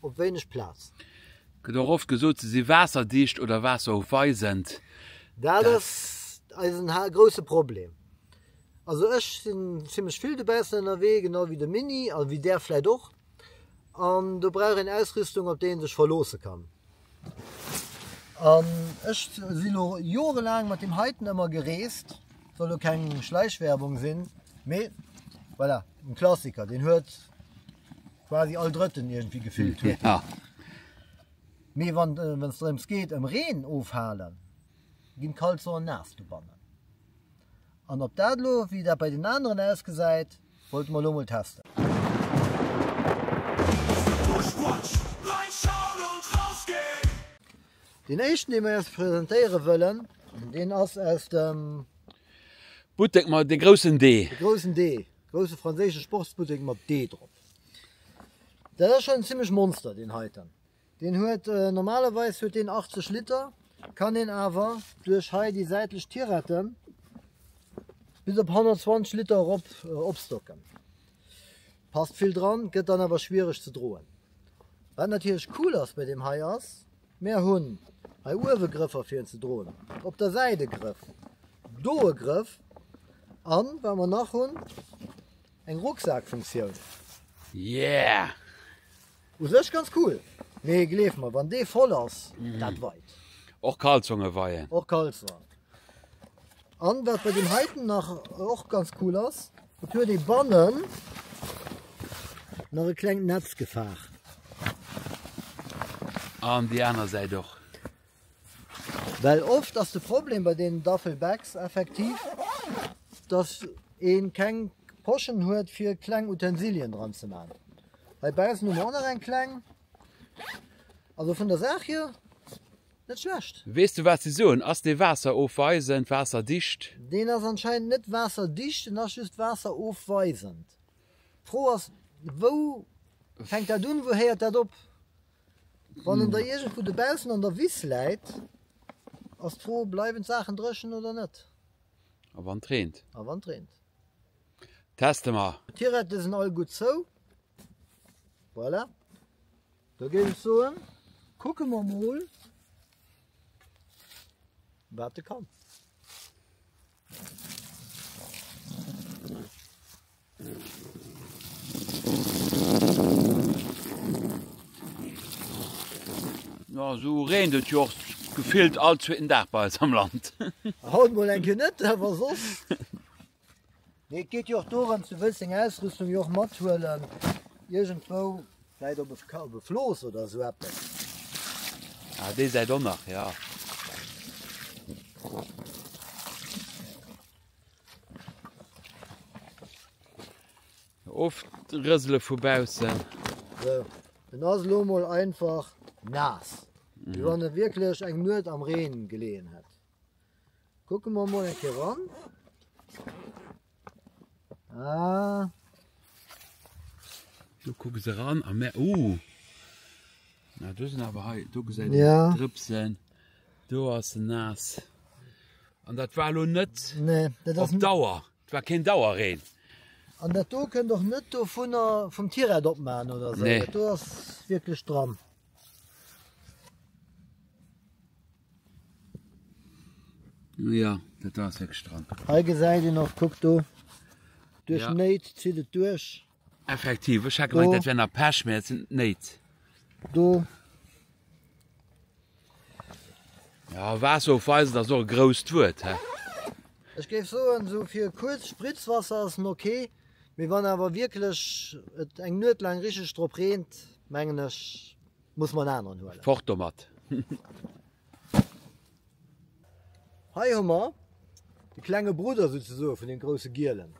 Op wéineg Plaz. Gëtt och oft gesot se si waasserdicht oder waasseroufweisend. Dat ass eisen grousse Problem. Also ech sinn zimlech vill dobaussen ënnerwee, genau wéi de Mini a wéi der vläit och. An do brauch een Ausrüstung op déi ee sech verloosse kann. An ech si elo jorelaang mat deem heiten ëmmer gereest, soll elo keng Schleichwerbung sinn, mee voilà, en Klassiker, deen huet quasi all drëtten irgendwie gefillt huet. Ja. Mee wann äh, wenn's drëms geht ëm Reen ofhalen, ginn Kalzonen nass do bannen. An op dat lo wéi dat bei den aneren ausgesäit, wollte mer lo mol testen. Den éischten dee mer iers presentéiere wëllen, deen ass aus dem Buttek, ma de groussen D. de groussen D. Grousse franséische Sportsbuttek mat D drop. Dat ass schon zimmlech Monster deen heiten. Deen huet äh, normalerweis huet deen 80 Liter, kann een awer duerch hei déi säitlech Tirette bis op 120 Liter erop äh, opstocken. Passt vill dran, gëtt dann awer schwiereg ze droen. Wat natierlech cool ass bei deem hei ass, Mär hunn hei uewe Grëffer fir en ze droen, op der Säit e Grëff, do e Grëff an wat mer nach hunn, eng Rucksakfunktioun. Yeah! U sech ganz cool, mee gleef mer, wann dee voll ass, dat weit. Och Kalzonge weien. Och Kalzong. An wat bei dem heiten nach och ganz cool ass, et huet ee bannen nach e klengt Netz gefaach. An déi aner Säit och. Well oft ass de Problem bei deenen Duffelbags effektiv, dass ee keng Poschen huet fir kleng Utensilien dran ze man. Hei baussen hu mer och nach eng kleng. Also vun der Saach hier Net schlecht! Weess du wat se soen? Ass dee waasseroofweisend, waasserdicht? Deen ass anscheinend net waasserdicht, en ass just waasseroofweisend. D'Fro ass, wou fänkt dat un, wou héiert dat op? Wann en da iergendwou dobaussen an der Wiss läit, ass d'Fro, bleiwen d'Saachen dréchen oder net? A wann et reent? A wann et reent? Teste mer! D'Tirette sinn all gutt zou. Voilà. Da géif ech soen, kucke mer mol, wat e kann. Ja, so reent et jo gefillt all zweeten Dag bei eis am Land. Haut mol enke net, awer soss. Mee et geet jo och dorëms, du wëlls deng Ausrüstung jo och mathuelen, iergendwou, vläit op e, op e Flooss oder esou eppes. Ah, déi Säit och nach, ja. Oft rësele vu baussen. So, en ass elo mol einfach naass, wéi wann e wierklech eng Nuet am Reen geleeën hätt. Kucken mer mol eng Kéier ran. Ah. Du kucke se ran a mé uh. Na du sinn awer hei du gesä ja. Drëpsen do ass se nass. An dat war lo net nee, dat ass Dauer. Dat war kein Dauer reen. An dat do kënnt och net do vun der vum Tierrad opmaen oder se. Nee. Do ass wierklech dran. Ja, dat ass wéck stramm. Hei gesäit een och, kuck do, duerch ja. Néit zitt et duerch. Effektiv, ech hat gemeint, dat wär nach Pech, mä et sind Néit. Do. Ja, was auf weisen, dat ass och e grousst Wuert, he? Ech géif soen, so fir kuerz Spritzwasser ass en okay, mee wann awer wierklech et eng Nuet laang richtig drop reent, Mengen ech muss mer en aneren huelen. Fort domat! Hei hu mer de klenge Brudder souzesoe vun deem grousse gielen.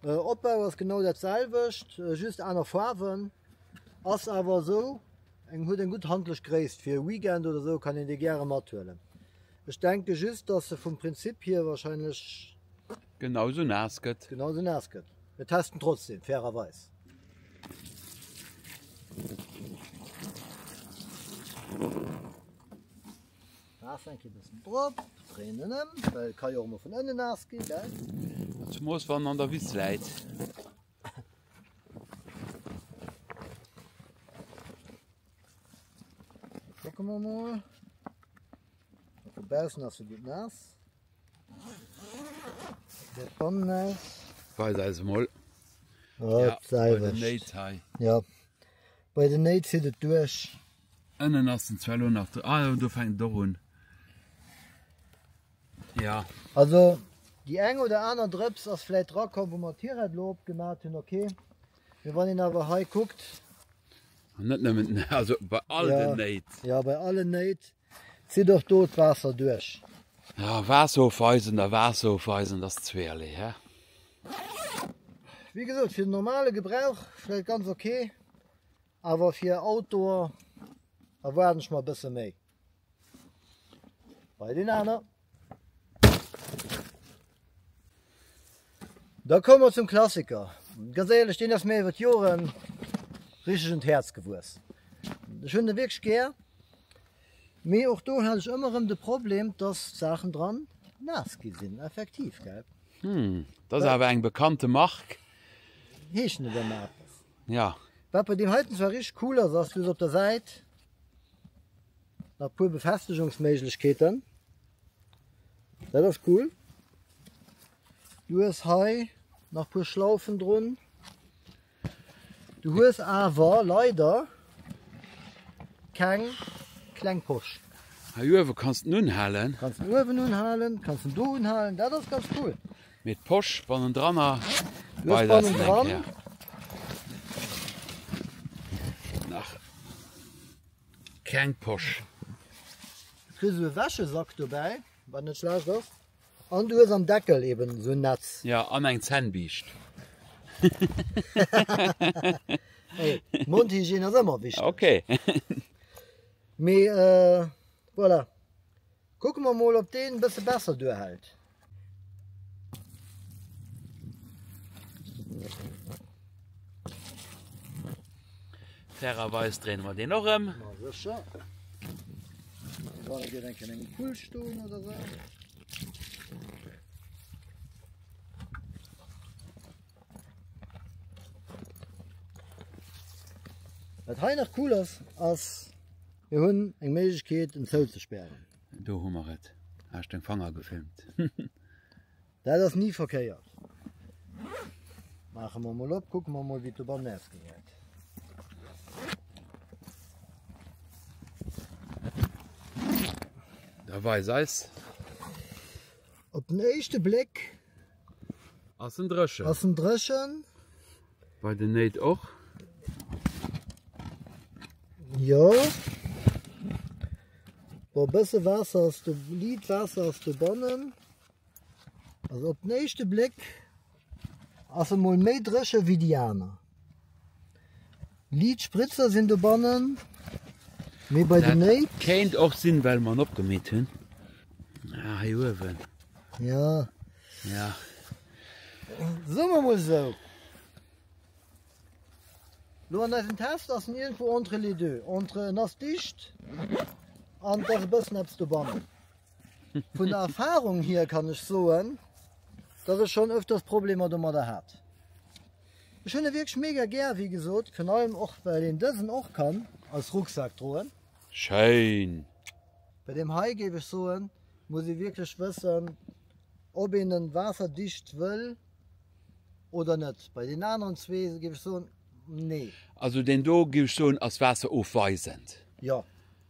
Opbau ass genau dat selwecht, just aner Faarwen. Ass awer esou, eng huet eng gutt handlech Gréisst, fir e Weekend oder esou kann een dee gäre mathuelen. Ech denke just, datt se vum Prinzip hier wahrscheinlech Genau sou naass gëtt. Genau sou naass gëtt. Mir testen trotzdem, fairerweis. Waasser eng Kéier bëssen drop, dréinen ëm, well et ka jo och emol vun ënnen naass ginn, gell? Zemoos wann en an der Wiss läit. Kucke mer emol. Dobaussen ass se gutt naass. Weis eis emol. Ja, bei den Néit hei. Ja, bei den Néit zitt et duerch. Ënnen ass en zwar elo nach dr. Ah jo, do fänkt et och un. Ja. Also, déi eng oder aner Drëps ass vläit drakomm, wou mer d'Tirette elo opgemat hunn, okay. Mee wann een awer hei kuckt. An net nëmmen, also bei all den Néit. Ja, bei allen Néit. Zitt och do d'Waasser duerch? Ja, Waasser ofweisen a Waasser ofweisen, dat ass zweeërlee, hä? Wéi gesot, fir den normale Gebrauch vläit ganz ok, awer fir Outdoor erwaarden ech mer e bësse méi bei deen aner. Da komme mer zum Klassiker. Ganz ehrlech, den ass mir iwwer d'Joren richtig un d'Häerz gewuess. Ech hunn de wirklich gär. Mee och do hat ech ëmmer erëm de Problem, dass d'Saachen dran naass gi sinn, effektiv, gell? Hm, dat ass awer eng bekannte Mark. Heeschen déi dann nach eppes? Ja. Wat bei deem heiten zwar richtig cool ass, ass, du hues op der Säit Nach puer Befestegungsméiglechkeeten, dat ass cool. Du hues hei nach puer Schlaufen drun. Du hues awer leider keng kleng Posch. Hei uewe kanns den unhalen. Kanns den uewen unhalen, kanns den do unhalen, dat ass ganz cool. Mee d'Posch bannendranner, wei dat se eng Kéier nach. kleng Posch. Du kriss sou e Wäschesack dobäi, wat net schlecht ass, an du hues am Deckel eben esou en Netz. Ja, an eng Zännbiischt. Hey, Mondhygiène ass ëmmer wichteg. Okay. Mee voilà. Kucke mer mol op deen bësse besser duerhält. Fairerweis dréine mer deen och ëm. Ma sécher. War dat dir enken engem Pull stoen oder se? Wat hei nach cool ass, ass Mir hunn eng Méiglechkeet en zouzespären. Do hu mer et. Hasch deng Fanger gefilmt. Dat ass ni verkéiert. Maache mer mol op, kucke mer mol wéi et dobannen ausgesäit. Da weis eis. Op den éischte Bléck. Ass en dreschen? Ass en dreschen? Bei den Néit och? Jo. Bo bësse Waasser ass du liit Waasser ass du bannen. Also op den éischte Bléck ass e mol méi dresche wéi déi aner. Liit Spritzer sinn dobannen, mee bei den Néit. Dat kéint och sinn, well mer en opgemeet hunn. Ah, hei uewen. Ja. Ja. Soe mer mol esou. Lo an eisem Test ass en irgendwo entre les deux. Entre en ass dicht an et ass e bëssen eppes dobannen. Vun der Erfahrung hier kann ech soen, dass ech schonn öfters Problemer domadder hat. Ech hunn e wierklech mega gär, wéi gesot, virun allem och well een dësen och kann als Rucksak droen. Schéin! Bei deem hei géif ech soen, muss ee wierklech wëssen ob een en waasserdicht wëll oder net. Bei deenen aneren zwee géif ech soen, nee. Also deen do géif ech soen ass waasserofweisend. Jo,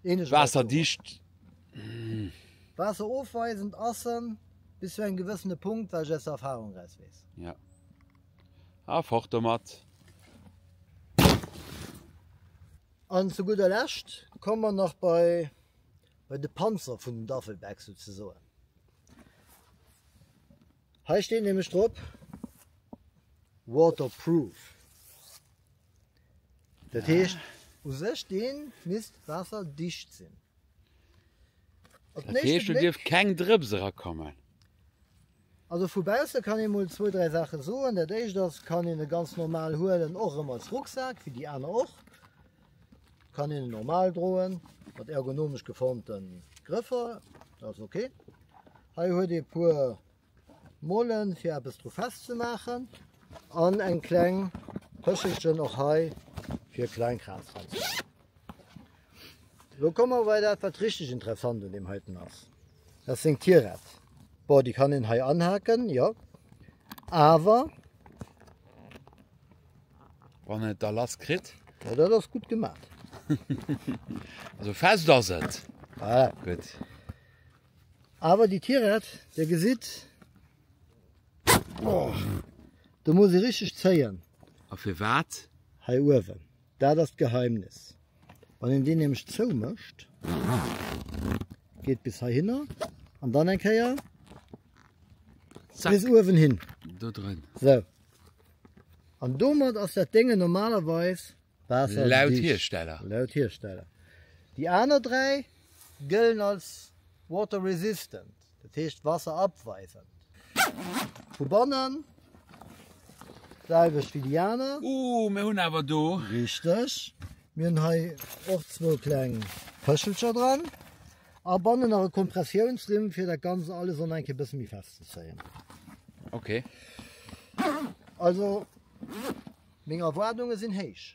eenegkeet ass do. Waasserdicht, humm. Waasserofweisend ass en bis zu engem gewëssene Punkt, wat ech aus der Erfahrung eraus weess. Jo. A fort domat! An zu gudder Lescht komme mer nach bei bei de Panzer vun den Duffelbag souzesoen. Hei steet nämlech drop Waterproof. Dat heescht u sech deen misst waasserdicht sinn. Op den éischte Bléck. Dat heescht do dierf keng Drëps erakommen. Also vu bausse kann ee mol zwou, dräi Saache soen. Dat éischt ass, kann een e ganz normal huelen, och erëm als Rucksak, wéi déi aner och. Kann een e normal droen, mat ergonomesch geformten Grëffer, dat ass ok. Hei huet ee puer Mollen, fir eppes dru festzemaachen, an eng kleng Pëschelchen och hei, fir Kleinkrams dranzemaachen. Elo komme mer bei dat, wat richteg interessant un deem heiten ass. Dat seng Tirett. Bon, déi kann een hei anhaken, jo. Awer. Wann en et da lass kritt. Ja, dat ass gutt gemaach. Also fest ass et. Voilà. Gutt. Awer déi Tirett, Dir gesitt. Oh. Do muss ee richteg zéien. A firwat? Hei uewen. Dat ass d'Geheimnis. Wann een deen nämlech zoumécht, geet bis heihinner an dann eng Kéier bis uewen hin. Do dran. Sou. An domat ass dat Déngen normalerweis waasserdicht. Laut Hiersteller. Laut Hiersteller. Déi aner dräi gëllen als water resistant. Dat heescht d'Wasser abweiwen. Vu bannen d'selwecht wéi déi aner. Ooh, mir hunn awer do. Richteg. Mir hunn hei och zwou kleng Pëschelcher dran. A bannen nach e Kompressiounsrimm, fir dat Ganzt alles an eng Kéier e bësse méi fest ze zéien. Ok. Also, meng Erwaardunge sinn héich.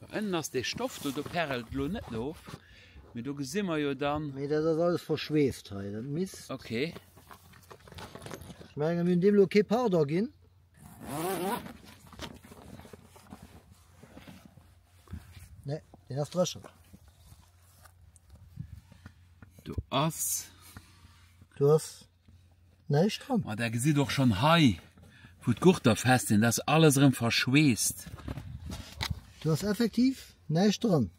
Do ënnen ass dee Stoff do, do perelt elo net of, mee do gesi mer jo dann. Nee, dat ass alles verschweeft hei, dat misst. Okay. Ech menge mir hunn deem elo kee Pardon ginn. Nee, deen ass dréchen. Do ass. Du ass. Näischt dran. Ma der gesitt och schonn hei, wou d'Gurter fest sinn, dat ass alles erëm verschweesst. Do ass effektiv näischt dran.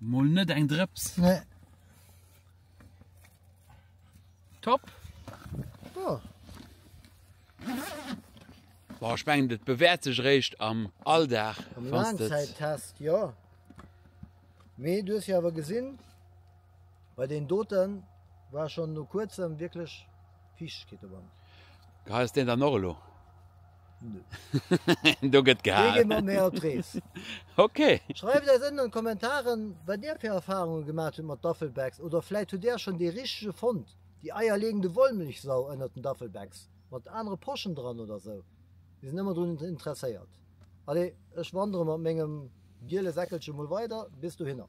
Mol net eng Drëps. Nee. Top. Ja. Boah, ech mengen, dat bewäert sech eréischt am Alldag. Am wann s de- Laangzäittest, ja. Mee du hues jo awer gesinn, Bei den doten war schon no kuerzem wierklech Fiichtegkeet dobant. Geheit ass deen dann och elo? Nö. Do gëtt Dee geet mat gehaal. mär op d'Rees. Ok. Schreift eis ënnen an d'Kommentaren wat dir fir Erfahrungen gemaat hutt mat Duffelbags oder vläit hutt där schon dee richtege fonnt, déi eierlegende Wollmilchsau ënnert den Duffelbags mat anere Poschen dran oder sou. Mir sinn ëmmer drun interesséiert. Allez, ech wandere mat mengem giele Säckelche mol weider bis dohinner.